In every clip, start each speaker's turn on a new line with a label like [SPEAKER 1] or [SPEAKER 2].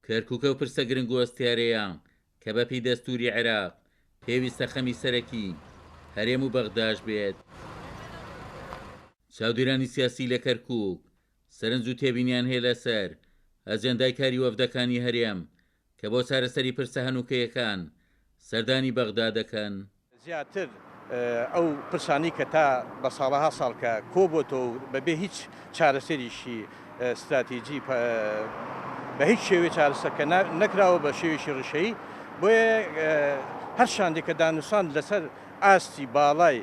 [SPEAKER 1] کەرکوک ئەو پرسە گرنگ و هەستیارەیە کە بە پێی دەستوری عێراق پێویستە خەمی سەرەکی هەرێم و بەغداش بێت. چاودێرانی سیاسی لە کەرکوک سەرنج و تێبینیان هەیە لە سەر ئەجێندای کاری وەفدەکانی هەرێم کە بۆ چارەسەری پرسە هەنوکەیەکان سەردانی بەغدا دەکەن. زیاتر
[SPEAKER 2] ئەو پرسانەی کە تا بە ساڵەها ساڵ کە کۆبۆتەوە و بە بێ هیچ چارەسەریشی ستراتیجی بە هیچ شێوەی چارەسەر کە نەکراوە بە شێوێکی ڕیشەیی بۆیە هەر شاندێک کە دانوسان لەسەر ئاستی باڵای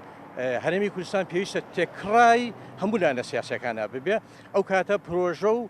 [SPEAKER 2] هەرێمی کوردستان پێویستە تێکڕای هەموو لایەنە سیاسەکانە ببێ ئەو کاتە پرۆژە و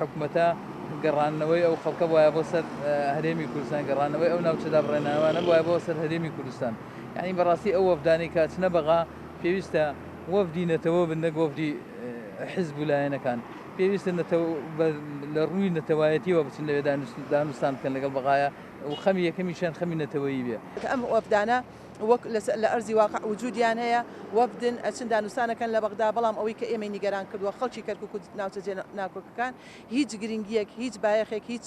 [SPEAKER 3] حکومەتە گەڕاندنەوەی ئەو خەڵکە بوایە بۆ سەر هەرێمی کوردستان گەڕانەوەی ئەو ناوچە دابڕێنانەوانە بوایە بۆ سەر هەرێمی کوردستان یعنی بەڕاستی ئەو وەفدانەی کە ئەچنە بەغا پێویستە وەفدی نەتەوە بن نەک وەفدی حزب و لایەنەکان پێویستە نەتەوە لە ڕووی نەتەوایەتیەوە بچن لەوێ دانوستان بکەن لەگەڵ بەغایە و خەمی یەکەمیشیان خەمی نەتەوەیی بێ کە ئەم وەفدانە
[SPEAKER 4] وەک لە ئەرزی واقع وجودیان هەیە، وەفدن، ئەچن دانوستان ئەکەن لە بەغدا، بەڵام ئەوەی کە ئێمەی نیگەران کردووە خەڵکی کەرکوک و ناوچە جێ ناکۆکەکان هیچ گرنگیەک هیچ بایەخێک هیچ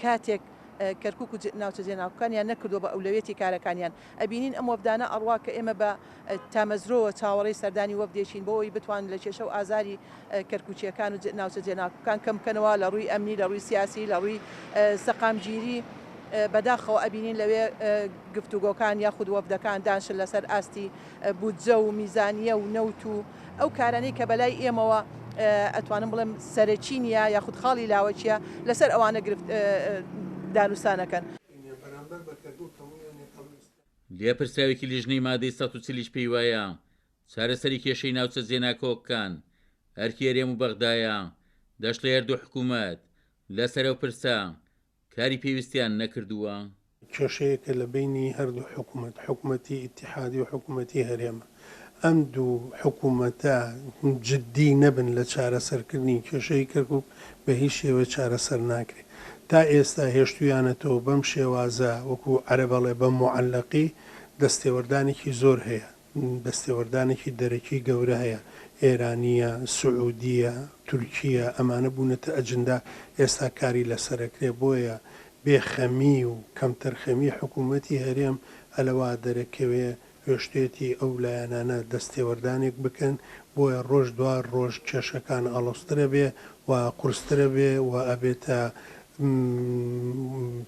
[SPEAKER 4] کاتێک کەرکوک و ناوچە جێ ناکۆکانیان نەکردووە بە ئەولەویەتی کارەکانیان ئەبینین ئەم وەفدانە ئەڕوا کە ئێمە بە تامەزرۆوە چاوەڕێی سەردانی وەفدێکین بۆ ئەوەی بتوان لە کێشە و ئازاری کەرکوکییەکان و ناوچە جێناکۆکان کەم بکەنەوە لە ڕووی ئەمنی، لە ڕووی سیاسی، لە ڕووی سەقامگیری، بەداخەوە ئەبینین لەوێ گفتوگۆکان یاخود وەفدەکان دانشن لەسەر ئاستی بودجە و میزانییە و نەوت و ئەو کارانەی کە بەلای ئێمەوە ئەتوانم بڵێم سەرەکی نییە یاخود خاڵی لاوەکییە لەسەر ئەوانە گرفت دانوستان ئەکەن.
[SPEAKER 1] لێپرسراوێکی لیژنەی مادەی سەد و چل یش پێی وایە چارەسەری کێشەی ناوچە جێناکۆکەکان ئەرکی هەرێم و بەغدایە، دەشڵێ هەردوو حکوومەت لەسەر ئەو پرسە کاری پێویستیان نەکردووە. کێشەیەکە
[SPEAKER 5] لە بەینی هەردوو حکوومەت، حکوومەتی ئیتیحادی و حکوومەتی هەرێمە. ئەم دوو حکوومەتە جددی نەبن لە چارەسەرکردنی کێشەی کەرکووک، بە هیچ شێوەیەک چارەسەر ناکرێت. تا ئێستا هێشتوویانەتەوە بەم شێوازە، وەکوو عەرەب ئەڵێ بە موعەلەقی، دەستێوەردانێکی زۆر هەیە. دەستێوەردانێکی دەرەکی گەورە هەیە، ئێرانییە، سعودییە، تورکییە، ئەمانە بوونەتە ئەجندا، ئێستا کاری لەسەر ئەکرێ، بۆیە بێ خەمی و کەمتەرخەمی حکوومەتی هەرێم ئەلەوا دەرەکەوێ هۆشتێتی ئەو لایەنانە دەستێوەردانێک بکەن، بۆیە ڕۆژ دوا ڕۆژ کێشەکان ئاڵۆزتر ئەبێ و قورستر ئەبێ و ئەبێتە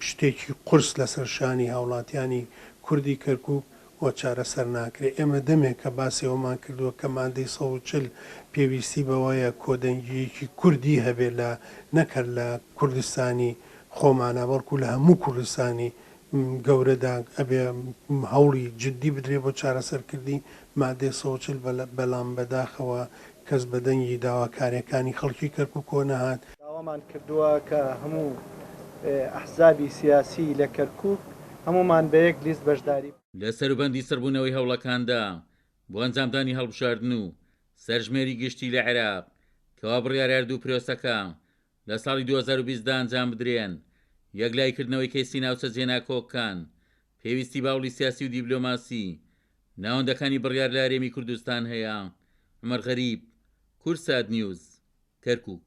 [SPEAKER 5] شتێکی قورس لەسەر شانی هاوڵاتیانی کوردی کەرکووک و چارەسەر ناکرێت، ئێمە دەمێکە باسی ئەوەمان کردووە کە مادەی سەد و چل پێویستی بەوەیە کۆدەنگییەکی کوردی هەبێت لە نەک هەر لە کوردستانی خۆمانا بەڵکو لە هەموو کوردستانی گەورەدا ئەبێ هەوڵی جدی بدرێت بۆ چارەسەرکردنی مادەی سەد و چل بەلام بەداخەوە کەس بە دەنگی داواکاریەکانی خەڵکی کەرکوکەوە نەهات. داوامان کردووە
[SPEAKER 6] کە هەموو ئەحزابی سیاسی لە کەرکوک هەموومان بە یەک لیست بەشداری. لە سەروبەندی
[SPEAKER 1] سڕبوونەوەی هەوڵەکاندا بۆ ئەنجامدانی هەڵبژاردن و سەرژمێری گشتی لە عێراق کەوا بڕیارە دوو پرۆسەکە لە ساڵی دوو هەزار و بیست دا ئەنجام بدرێن، یەکلاییکردنەوەی کەیسی ناوچە جێناکۆککان پێویستی باوڵی سیاسی و دیبلۆماسی ناوەندەکانی بڕیار لە هەرێمی کوردستان هەیە، عومەر غەریب، کوردساتنیوز، کەرکووک.